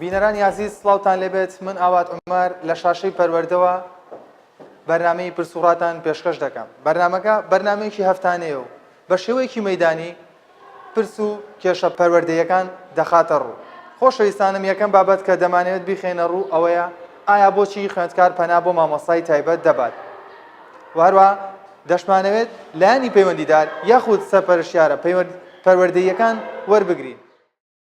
بینەرانی عزیز سڵاوتان لێبێت من ئاوات عمر لە شاشەی پەروەردەوە بەرنمەی پرسوڕاتان پێشکەش دەکەم بەرنمەکە بەرنمەیەکی هەفتانەیە و بە شێوەیەکی مەیدانی پرس و کێشە پەروەردەییەکان دەخاتە ڕوو. خۆشەویستانم یەکەم بابەت کە دەمانەوێت بیخەینە ڕوو ئەوەیە ئایا بۆچی خوێندکار پەنا بۆ مامۆستای تایبەت دەبات و هەروەها دەشمانەوێت لایەنی پەیوەندیدار یاخود سەرپەرشتیارە پەروەردەییەکان وەربگرین.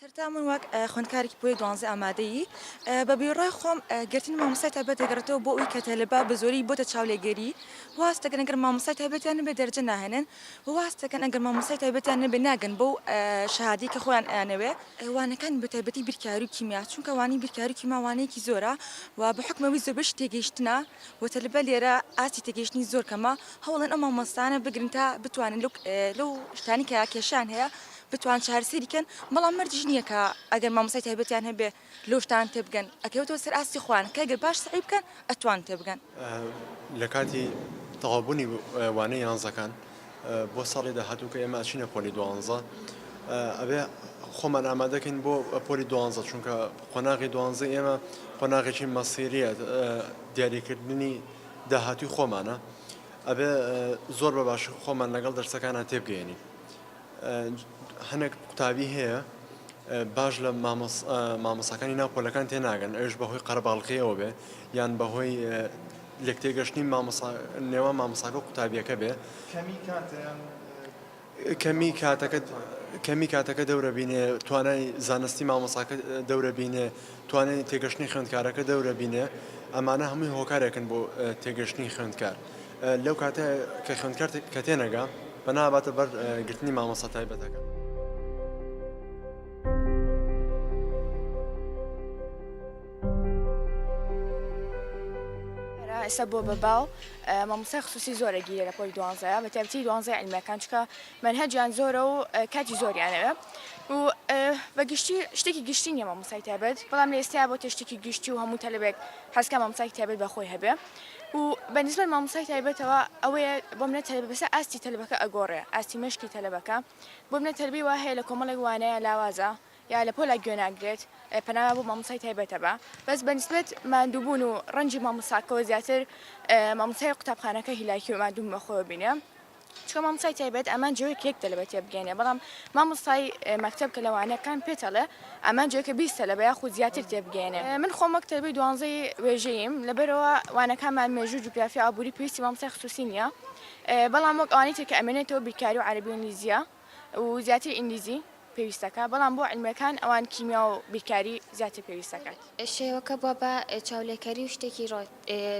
سەرەتا من وەک خوندکارێکی پۆلی دوانزە ئامادەیی بە بیڕای خۆم گرتن مامۆسای تابێت دەگەڕێتەوە بۆ ئەوی کە تەلەبا بە زۆری بۆتە چاولێگەری واستەگەنەگەر مامۆسای تابێتیان بێ دەرجە ناهێنن واز تەکەن ئەگەر مامۆستای تایبەتیان نەبێ ناگەن بەو شهادەی کە خۆیان ئەیانەوێ. وانەکانی بە تایبەتی بیرکاری و کیمیا چونکە وانەی بیرکاری و کیما وانەیەکی زۆرە و بە حوکم ئەوی زۆربەیشی تێگەیشتنە و تەلبە لێرە ئاستی تێگەیشتنی زۆر کەمە هەوڵدەن ئەو مامۆستایانە بگرن تا بتوانن لەو لەو شتانەی کە کێشەیان هەیە بتوان چارەسەری کەن بەڵام مەرجیش نییە کە ئەگەر مامۆستای تایبەتیان هەبێ لوتان تێبگەن ئەکەوێتەوە سەر ئاستی خۆیان کە گەر باش سەعی بکەن ئەتوان تێبگەن. لە کاتی تەواوبوونی وانەی یانزەکان بۆ ساڵی داهاتوو کە ئێمە ئەچینە پۆلی دوانزە ئەبێ خۆمان ئامادەکەین بۆ پۆلی دوانزە چونکە قۆناغی دوانزە ئێمە قۆناغێکی مەسیریە دیاریکردنی داهاتوی خۆمانە ئەبێ زۆر بە باش خۆمان لەگەڵ دەرسەکانە تێبگەێنین هەنێک قوتابی هەیە باش لە مامۆساکانی ناو پۆلەکان تێناگەن ئەوش بەهۆی قەرەباڵقیەوە بێ یان بەهۆی لێک تێگەشتنی نێوان مامۆساکە و قوتابیەکە بێ کەمی کاتەکە کەمی کاتەکە دەورە بینێ توانای زانستی مامۆساکە دەورە بینێ توانای تێگەشتنی خوێندکارەکە دەورە بینێ ئەمانە هەمووی هۆکارێکن بۆ تێگەشتنی خوێندکار. لەو کاتە کە خوێندکار کە تێنەگا پەنا باتە بەر گرتنی مامۆستا تایبەتەکە. ئێستا بۆ بە باو مامۆستا خصوصی زۆرە گیرە لە پۆلی دوانزە بە تایبەتی دوانزە علمەکان چکە منهجیان زۆرە و کاتی زۆریانەوە و بە گشتی شتێکی گشتی نیە مامۆسای تایبەت بەڵام لە ئێستا بۆ تێشتێکی گشتی و هەموو تەلبێک حەزکە مامۆسای تایبەت بەخۆی هەبێ و بە نیسبەت مامۆستای تایبەتەوە ئەوەیە بۆ منە تەلەبە بەسە ئاستی تەلەبەکە ئەگۆڕێ ئاستی مەشقی تەلەبەکە بۆ منە تەلەبەی وا هەیە لە کۆمەڵێک وانەیە لاوازە یا لە پۆلا گوێ ناگرێت پەناما بۆ مامۆستای تایبەتە بە بەس بە نیسبەت ماندووبوون و ڕەنجی مامۆستاکەەوە زیاتر مامۆستای قوتابخانەکە هیلاکی و مادووم بەخۆوە بینێ چونکە مامۆستای تایبەت ئەمان جۆ کە یەک تەلەبە تێبگەێنێ بەڵام مامۆستای مەکتب کە لەوانەکان پێتەڵێ ئەمان جۆکە بیست تەلەبە یا خود زیاتر تێبگەێنێ من خۆم وەک تەلبەی دوانزەی وێژەییم لەبەرەوە وانەکانمان مێژوو جوگرافیا ئابووری پێویستی مامۆستای خصوصی نییە بەڵام وەک ئەوانی تر کە ئەمێنێتەوە بیرکاری و عەرەبی و ئینگلیزیە و زیاتر ئینگلیزی پێویست دەکات، بەڵام بۆ علمیەکان ئەوان کیمیا و بیرکاری زیاتر پێویست دەکات. شێوەکە بوە بە چاولێکەری و شتێکی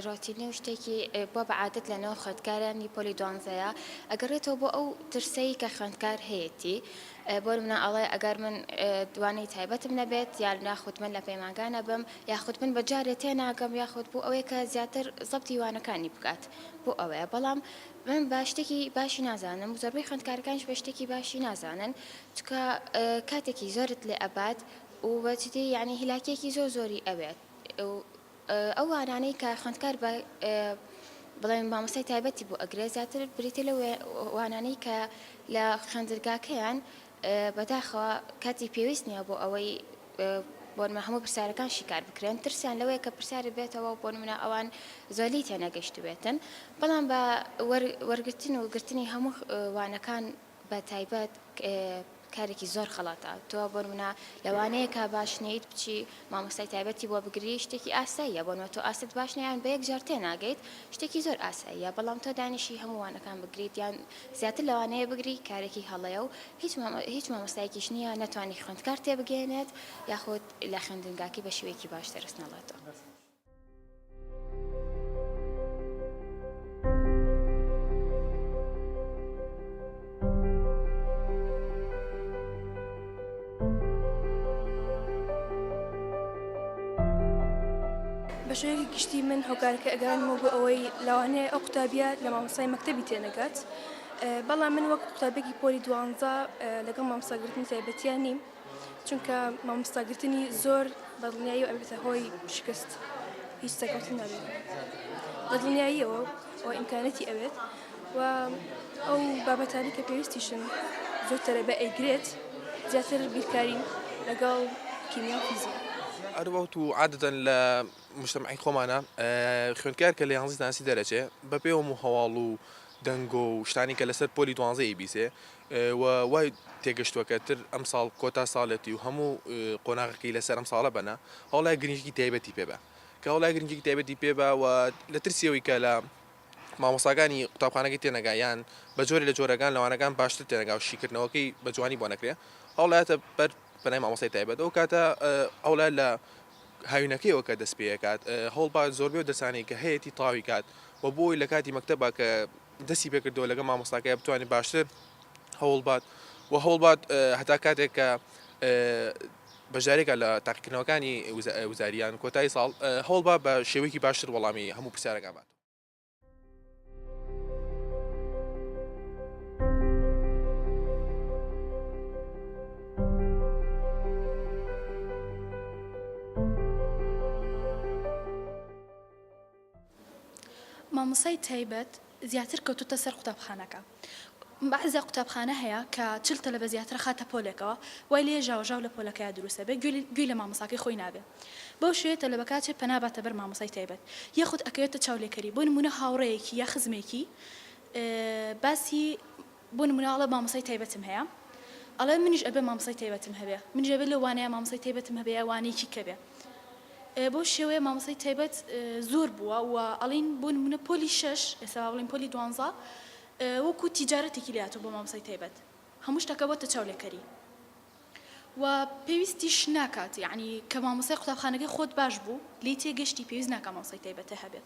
رۆتینی و شتێکی بوە بە عادەت لە نێو خوێندکارانی پۆلی دوانزەیا ئەگەڕێتەوە بۆ ئەو ترسەی کە خوێندکار هەیەتی بۆ نمونە ئەڵێ ئەگەر من دوانەی تایبەتم نەبێت یان یاخود من لە پەیمانگا نەبم یاخود من بە جارێ تێناگەم یاخود بۆ ئەوەیە کە زیاتر زەبتی وانەکانی بکات بۆ ئەوەیە بەڵام من بە شتێکی باشی نازانم زۆربەی خوێندکارەکانش بە شتێکی باشی نازانن چکە کاتێکی زۆرت لێ ئەبات و بەچتی یعنی هیلاکیەکی زۆر زۆری ئەوێت ئەو وانانەی کە خوندکار بە بڵێن مامۆسای تایبەتی بۆ ئەگرێ زیاتر بریتە لە وانانەی کە لە خوێندرگاکەیان بەداخەوە کاتی پێویست نییە بۆ ئەوەی بۆ نمونە هەموو پرسیارەکان شیکار بکرێن ترسیان لەوەیە کە پرسیارت بێتەوە و بۆ نمونە ئەوان زۆر لی تێنەگەیشتبێتن بەڵام بە وەرگرتن و گرتنی هەموو وانەکان بە تایبەت کارێکی زۆر خەڵاتە تۆ بۆ نمونە لەوانەیە کا باش نیت بچی مامۆستای تایبەتی بۆ بگری شتێکی ئاساییە بۆ نۆ تۆ ئاست باش نیان بە یەک جار تێ ناگەیت شتێکی زۆر ئاساییە بەڵام تۆ دانیشی هەمووانەکان بگریت یان زیاتر لەوانەیە بگری کارێکی هەڵەیە و هیچ هیچ مامۆستایەکیش نییە نەتوانی خوێندکار تێبگەیەنێت یاخود لە خوێندنگاکەی بە شێوەیەکی باش دەرس نەڵێتەوە. بە شێوەیەکی گشتی من هۆکارەکە ئەگەڕێنمەوە بۆ ئەوەی لەوانەیە ئەو قوتابیە لە مامۆسای مەکتتەبی تێنەگات بەڵام من وەک قوتابێکی پۆلی دوانزە لەگەڵ مامۆساگرتنی تایبەتیان نیم چونکە مامۆستاگرتنی زۆر بەدڵنیایی و ئەبێتە هۆی شکست هیچ سەکەوتن نابێت بەدڵنیاییەوە و ئیمکانەتی ئەوێت و ئەو بابەتانی کە پێویستیشن زۆر تەرەبە ئەیگرێت زیاتر بیرکاری لەگەڵ کیمیا و فیزیا. ئەروەوت و عادەتەن لە مشتەمەعی خۆمانە خوێندکار کە لە یانزی زانستی دەرەچێ بە پێوەم و هەواڵ و دەنگۆ و شتانی کە لەسەر پۆلی دوانزە ئەیبیسێ و وای تێگەشتووە کە تر ئەمساڵ کۆتا ساڵێتی و هەموو قۆناغەکەی لەسەر ئەم ساڵە بەنا هەوڵای گرنگیی تایبەتی پێ با کە هەوڵای گرنگیی تایبەتی پێ با و لە ترسی ئەوەی کە لە مامۆستاکانی قوتابخانەکەی تێنەگا یان بە جۆرێ لە جۆرەگان لەوانەگان باشتر تێنەگا و شیکردنەوەکەی بە جوانی بۆ نەکرێ هەوڵایەتە بەر پەنای مامۆستای تایبەت ئەو کاتە ئەوڵای لە هاوینەکەیەوە کە دەست پێکات هەوڵبا زۆربێ و دەسانەی کە هەیەی تاوی کات و بۆی لە کاتی مەکتتەبە کە دەستی پێکردەوە لەگە مامۆستاکە بتوانێت باشتر هەوڵبات و هەوڵبات هەتا کاتێک کە بەشدارێکە لە تاقیکردنەوەکانی وزاریان کۆتایی ساڵ، هەوڵبە بە شێوەیەکی باشتر وەڵامی هەموو پرسیارەکان باتەوە. مامۆستای تایبەت زیاتر کەوتۆتە سەر قوتابخانەکە. بەعزێ قوتابخانە هەیە کە چل تەلەبە زیاتر ئەخاتە پۆلێکەوە، وای لێیە ژاوەژاو لە پۆلەکەیا دروست ئەبێ، گوێی لە مامۆستاکەی خۆی نابێ. بەو شێوەیە تەلەبەکە ئەچێ پەنا باتە بەر مامۆستای تایبەت. یاخود ئەکەوێتە چاولێکەری. بۆ نموونە هاوڕێیەکی یا خزمێکی باسی بۆ نمونە ئەڵێ مامۆستای تایبەتم هەیە ئەڵێ منیش ئەبێ مامۆستای تایبەتم هەبێ منیش ئەبێ لەو وانەیە مامۆستای تایبەتم هەبێ یا وانەیەکی کە بێ بەو شێوەیە مامۆستای تایبەت زۆر بووە و ئەڵێن بۆ نمونە پۆلی شەش ئێستا با بڵێین پۆلی دوانزە وەکو تیجارەتێکی لێ هاتووە بۆ مامۆستای تایبەت هەموو شتەکە بۆتە چاولێکەری و پێویستیش ناکات یعنی کە مامۆستای قوتابخانەکەی خۆت باش بوو لێی تێگەشتی پێویست ناکا مامۆستای تایبەتت هەبێ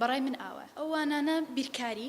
بەڕای من ئاوایە ئەو وانانە بیرکاری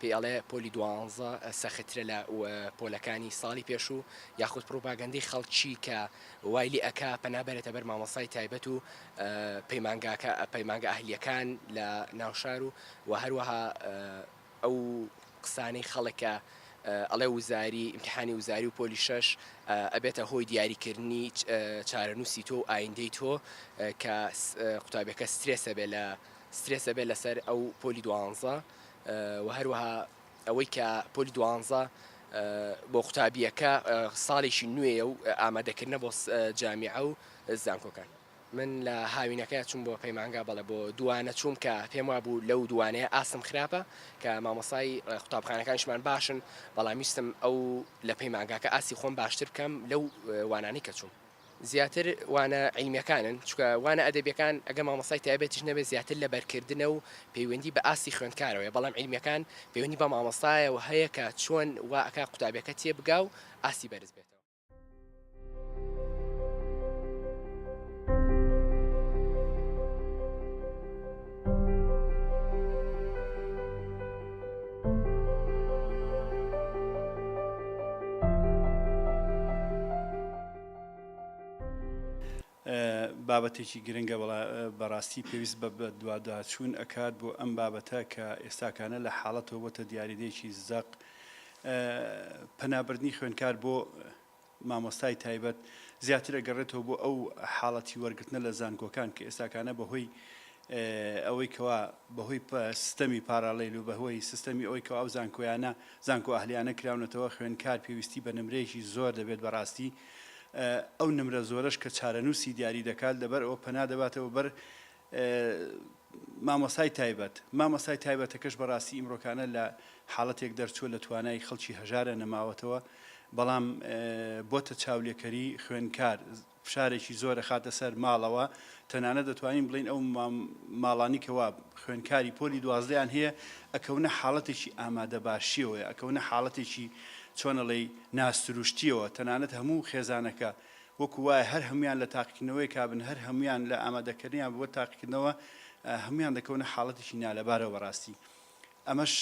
پێی ئەڵێ پۆلی دوانزە سەخترە لە پۆلەکانی ساڵی پێشوو یاخود پڕوپاگەندەی خەڵکی کە وای لێ ئەکا پەنا بەرێتە بەر مامۆستای تایبەت و پەیمانگاکە پەیمانگە ئەهلیەکان لە ناوشار و وە هەروەها ئەو قسانەی خەڵک کە ئەڵێ وزاری ئیمتیحانی وزاری و پۆلی شەش ئەبێتە هۆی دیاری کردنی چارەنووسی تۆ و ئایندەی تۆ کە قوتابیەکە سترێسە بێ لە سترێسە بێ لەسەر ئەو پۆلی دوانزە وە هەروەها ئەوەی کە پۆلی دوانزە بۆ قوتابیەکە ساڵێکی نوێیە و ئامادەکردنە بۆ جامیعە و زانکۆکان من لە هاوینەکە چوم بۆ پەیمانگا بەڵێ بۆ دوانە چوم کە پێم وا بوو لەو دوانەیە ئاستم خراپە کە مامۆسای قوتابخانەکانشمان باشن بەڵام ویستم ئەو لە پەیمانگاکە ئاستی خۆم باشتر بکەم لەو وانانەی کە چوم زیاتر وانە عیلمیەکانن چونکە وانە ئەدەبیەکان ئەگەر مامۆستای تایبەتیش نەبێت زیاتر لە بەرکردنە و پەیوەندی بە ئاستی خوێندکارەوەیە بەڵام عیلمیەکان پەیوەندی بە مامۆستایەوە هەیە کە چۆن وا ئەکا قوتابیەکە تێبگا و ئاستی بەرز بێتەوە. بابەتێکی گرنگە بەڕاستی پێویست بە دوواداچوون ئەکات بۆ ئەم بابەتە کە ئێستاکانە لە حاڵەتەوە بۆتە دیاریدەیەکی زەق پەنابردنی خوێنکار بۆ مامۆستای تایبەت زیاتر ئەگەڕێتەوە بۆ ئەو حاڵەتی وەرگرتنە لە زانکۆکان کە ئێستاکانە بەهۆی ئەوەی کەوا بەهۆی سستەمی پاراڵێل و بەهۆی سستەمی ئەوەی کەوا ئەو زانکۆیانە زانکۆ ئەهلیانە کراونەتەوە خوێنکار پێویستی بە نمرەیەکی زۆر دەبێت بەڕاستی ئەو نمرە زۆرەش کە چارەنووسی دیاری دەکات لەبەر ئەوە پەنا دەباتەوە بەر مامۆستای تایبەت، مامۆستای تایبەتەکەش بەڕاستی ئیمڕۆکانە لە حاڵەتێک دەرچووە لە توانای خەڵکی هەژارە نەماوەتەوە، بەڵام بۆتە چاولێکەری خوێندکار، فشارێکی زۆر ئەخاتە سەر ماڵەوە، تەنانەت دەتوانین بڵێین ئەو ماڵانی کە وا خوێندکاری پۆلی دوازدەیان هەیە ئەکەونە حاڵەتێکی ئامادەباشییەوە، ئەکەونە حاڵەتێکی چۆن ئەڵێی ناسروشتییەوە، تەنانەت هەموو خێزانەکە، وەکو وایە هەر هەموویان لە تاقیکردنەوەیەکا بن، هەر هەموویان لە ئامادەکردنیان بۆ تاقیکردنەوە، هەموویان دەکەونە حاڵەتێکی نالەبارەوە بەڕاستی. ئەمەش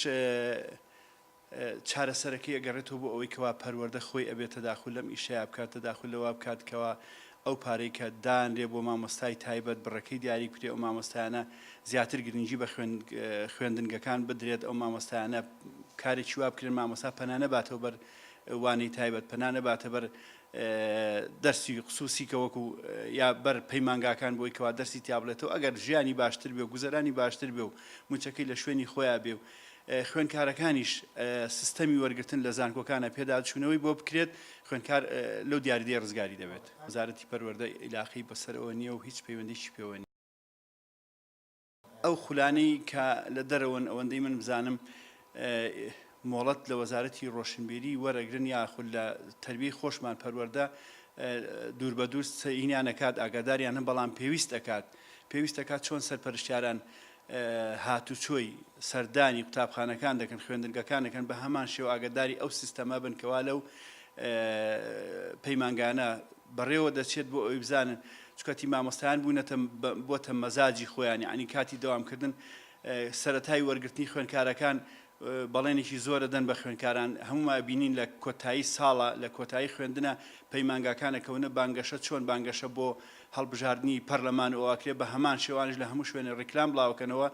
چارەسەرەکەی ئەگەڕێتەوە بۆ ئەوەی کەوا پەروەردە خۆی ئەبێت تەداخول لەم ئیشەیا بکات، تەداخول لەوە بکات کەوا ئەو پارەی کە دانرێ بۆ مامۆستای تایبەت بڕەکەی دیاری بکرێ، ئەو مامۆستایانە زیاتر گرنگی بە خوێندنگەکان بدرێت، ئەو مامۆستایانە کارێکی وا بکرێن مامۆستا پەنا نەباتەوە بەر وانەی تایبەت، پەنا نەباتە بەر دەرسی خسوسی کە وەکو یا بەر پەیمانگاکان بۆی کەوا دەرسی تیابلێتەوە ئەگەر ژیانی باشتر بێ و گوزەرانی باشتر بێ و موچەکەی لە شوێنی خۆیان بێ و خوێنکارەکانیش سیستەمی وەرگتن لە زانکۆکانە پێداچوونەوەی بۆ بکرێت خوێنکار لەو دیاریدەی ڕزگاری دەبێت وەزارەتی پەروەردە ئیلاقی بەسەرەوە نییە و هیچ پەیوەندیی پێوە نیە. ئەو خولانەی کە لە دەرەوەن ئەوەندەی من بزانم مۆڵەت لە وەزارەتی ڕۆشنبیری وەرەگرن یاخود لە تربی خۆشمان پەروەەردە دوور بە دوور سەینیان نەکات ئاگاداریان هەم بەڵام پێویست ئەکات پێویست دەکات چۆن سەرپەرشتیاران هاتوچۆی سەردانی قوتابخانەکان دەکەن خوێندنگەکان دەکەن بە هەمان شێو ئاگداری ئەو سیستەمە بن کەوا لەو پەیمانگانە بەڕێوە دەچێت بۆ ئەوی بزانن چکەتی مامۆستایان بونەتە بۆتە مەزاجی خۆیان یەعنی کاتی دەوام کردن سەرەتای وەرگرتنی خوێنکارەکان بەڵێنێکی زۆرە دەن بە خوێنکاران هەموما ئەبینین لە کۆتایی ساڵە لە کۆتایی خوێندنە پەیمانگاکان ئەکەونە بانگەشە چۆن بانگەشە بۆ هەڵبژاردنی پەرلەمان ئەوە ئەکرێ بە هەمان شێوانش لە هەموو شوێنێ ڕیکلام بڵاوەکەنەوە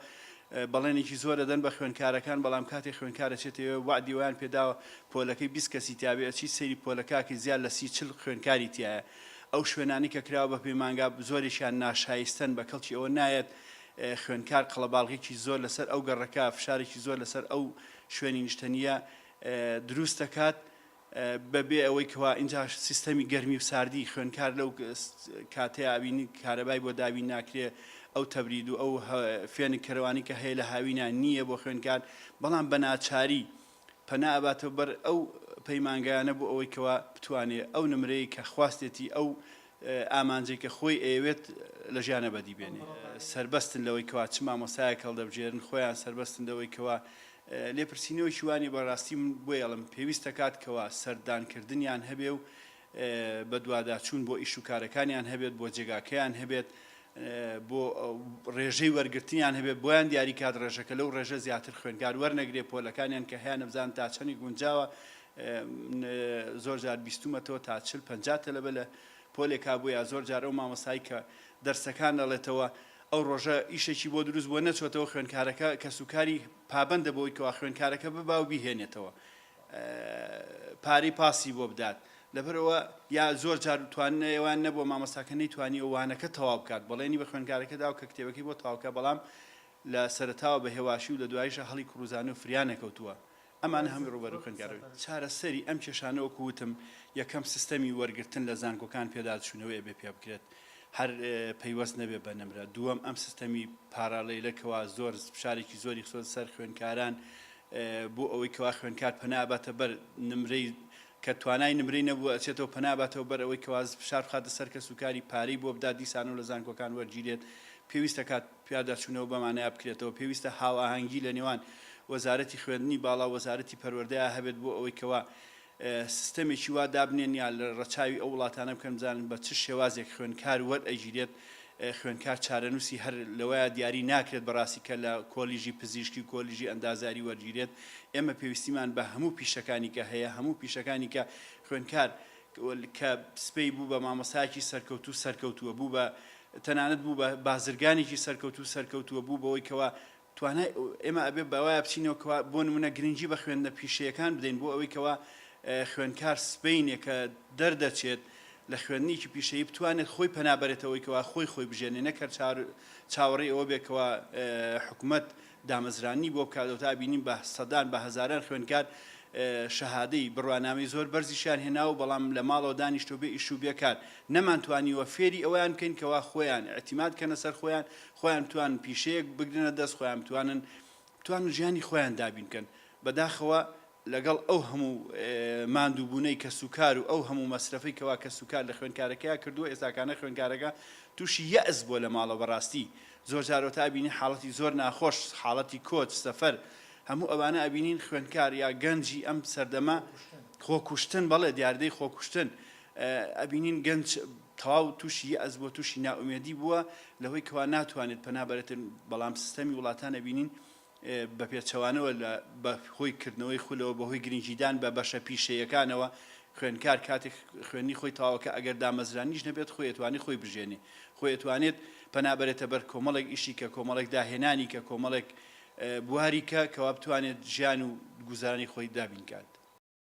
بەڵێنێکی زۆرە دەن بە خوێنکارەکان بەڵام کاتێ خوێنکارە چێتەوێ وەعدی وایان پێداوە پۆلەکەی بیست کەسی تیابێ ئەچی سەیری پۆلە کاکە زیاد لە سی چل خوێنکاری تیایە ئەو شوێنانەی کە کراوە بە پەیمانگا زۆرێکیان ناشایستەن، بە کەڵکی ئەوە نایەت خوێندکار قەڵەباڵغییەکی زۆر لەسەر ئەو گەڕەکە، فشارێکی زۆر لەسەر ئەو شوێنی نیشتەنییە دروست دەکات، بە بێ ئەوەی کەوا ئینجا سیستەمی گەرمی و ساردی خوێندکار لەو کاتەیە ئەبینی کارەبای بۆ دابین ناکرێ، ئەو تەبرید و ئەو فێنک کەرەوانی کە هەیە لە هاوینا نییە بۆ خوێندکار، بەڵام بە ناچاری. پەنا ئەباتەوە بەر ئەو پەیمانگایانە بۆ ئەوەی کەوا بتوانێ ئەو نمرەی کە خواستێتی ئەو ئامانجەی کە خۆی ئەیەوێت لە ژیانە بەدی بێنێ سەربەستن لەوەی کەوا چ مامۆستایەک هەڵدەبژێرن خۆیان سەربەستن لەوەی کەوا لێپرسینەوەکی وانیە بەڕاستی من بۆیەڵم پێویست دەکات کەوا سەردانکردنیان هەبێ و بەدواداچوون بۆ ئیش و کارەکانیان هەبێت، بۆ جێگاکەیان هەبێت، بۆ ڕێژەی وەرگرتنیان هەبێت، بۆیان دیاری کات ڕێژەکە لەو ڕێژە زیاتر خوێندکار وەرنەگرێت، پۆلەکانیان کە هەیە نەبزانن تا چەنی گونجاوە، من زۆر جار بیستوومەتەوە تا چل پەنجا تەلەبە لە پۆلێکا بووە، یا زۆر جار ئەو مامۆستای کە دەرسەکان دەڵێتەوە ئەو ڕۆژە ئیشێکی بۆ دروست بووە نەچۆتەوە، خوێندکارەکە کەسوکاری پابەندە بەوەی کەوا خوێندکارەکە ببا و بیهێنێتەوە، پارەی پاسی بۆ بدات لەبەرئەوە یا زۆر جار تواننە ئەوان نەبووە مامۆستاکە نەیتوانیوە وانەکە تەواو بکات بەڵێنی بە خوێنکارەکە داو کە کتێبەکەی بۆ تەواوکە بەڵام لە سەرەتاوە بە هێواشی و لە دوایشە هەڵی کوڕوزانە و فریا نەکەوتووە ئەمانە هەمی ڕوبەرو خوێنکارەوە چارەسەری ئەم کێشانە وەکو وتم یەکەم سیستەمی وەرگرتن لە زانکۆکان پێداچوونەوە ئەبێ پێ بکرێت هەر پەیوەست نەبێ بە نمرە دووەم ئەم سیستەمی پاراڵیلە کەوا زۆر فشارێکی زۆری خسۆ سەر خوێنکاران بۆ ئەوەی کەوا خوێندکار پەنا ئەباتە بەر نمرەی کە توانای نمرەی نەبووە ئەچێتەوە پەنا ئەباتەوە بەر ئەوەی کەوا فشار بخاتە سەر کەسوکاری پارەی بۆ بدات دیسانەوە لە زانکۆکان وەرگیرێت پێویستە کات پیاداچوونەوە بەم مانایە بکرێتەوە پێویستە هاوئاهەنگی لە نێوان وەزارەتی خوێندنی باڵا و وەزارەتی پەروەردەیا هەبێت بۆ ئەوەی کەوا سیستەمێکی وا دابنێن یا لە ڕەچاوی ئەو وڵاتانە بکەن بزانن بە چ شێوازێک خوێندکار وەرئەگیرێت، خوێندکار چارەنووسی هەر لەوەیا دیاری ناکرێت بەڕاستی کە لە کۆلیژی پزیشکی و کۆلیژی ئەندازیاری وەرگیرێت، ئێمە پێویستیمان بە هەموو پیشەکانی کە هەیە، هەموو پیشەکانی کە خوێندکار کە سبەی بوو بە مامۆستایەکی سەرکەوتوو سەرکەوتووە، بوو بە تەنانەت بوو بە بازرگانێکی سەرکەوتوو سەرکەوتووە، بوو بەوەی کەوا توانای ئێمە ئەبێت بەوایە بچینەوە کەوا بۆ نموونە گرنگی بە خوێندنە پیشەیەکان بدەین بۆ ئەوەی کەوا خوێندکار سبەینێ کە دەردەچێت لە خوێندنیکی پیشەیی بتوانێت خۆی پەنا بەرێتەوەی کەوا خۆی خۆی بژێنێ نەک هەر چار چاوەڕێی ئەوە بێت کەوا حکومەت دامەزرانی بۆ بکات ئەوتا بینیم بە سەدان بە هەزاران خوێندکار شەهادەی بڕوانامەی زۆر بەرزیشیان هێنا و بەڵام لە ماڵەوە دانیشتۆ بێ ئیش و بێکار نەمانتوانیوە فێری ئەویان بکەین کەوا خۆیان اعتیماد کەنە سەر خۆیان خۆیان بتوانن پیشەیەک بگرنە دەست، خۆیان بتوانن بتوانن ژیانی خۆیان دابین بکەن. بەداخەوە لەگەڵ ئەو هەموو ماندووبوونەی کەسوکار و ئەو هەموو مەسرەفەی کەوا کەسوکار لە خوێندکارەکەیا کردووە، ئێستاکانە خوێندکارەکە تووشی یەئس بووە لە ماڵەوە بەڕاستی زۆرجار ئەوتا ئەبینی حاڵەتی زۆر ناخۆش، حاڵەتی کۆچ، سەفەر، هەموو ئەوانە ئەبینین خوێندکار یا گەنجی ئەم سەردەمە خۆکوشتن، بەڵێ دیاردەی خۆکوشتن ئەبینین گەنج تەواو توشی یەئس بووە توشی نائومێدی بووە لەهۆی کەوا ناتوانێت پەنا بەرێتن بەڵام سیستەمی وڵاتان ئەبینین بەپێچەوانەوە لە بەهۆی کردنەوەی خولەوە بەهۆی گرنگیدان بە بەشە پیشەیەکانەوە خوێنکار کاتێک خوێنی خۆی تەواوەکە ئەگەر دامەزرانیش نەبێت خۆی ئەتوانێت خۆی بژێنێ خۆی ئەتوانێت پەنا بەرێتە بەر کۆمەڵێک ئیشی کە کۆمەڵێک داهێنانی کە کۆمەڵێک بواری کە کەوا بتوانێت ژیان و گوزارانی خۆی دابین کات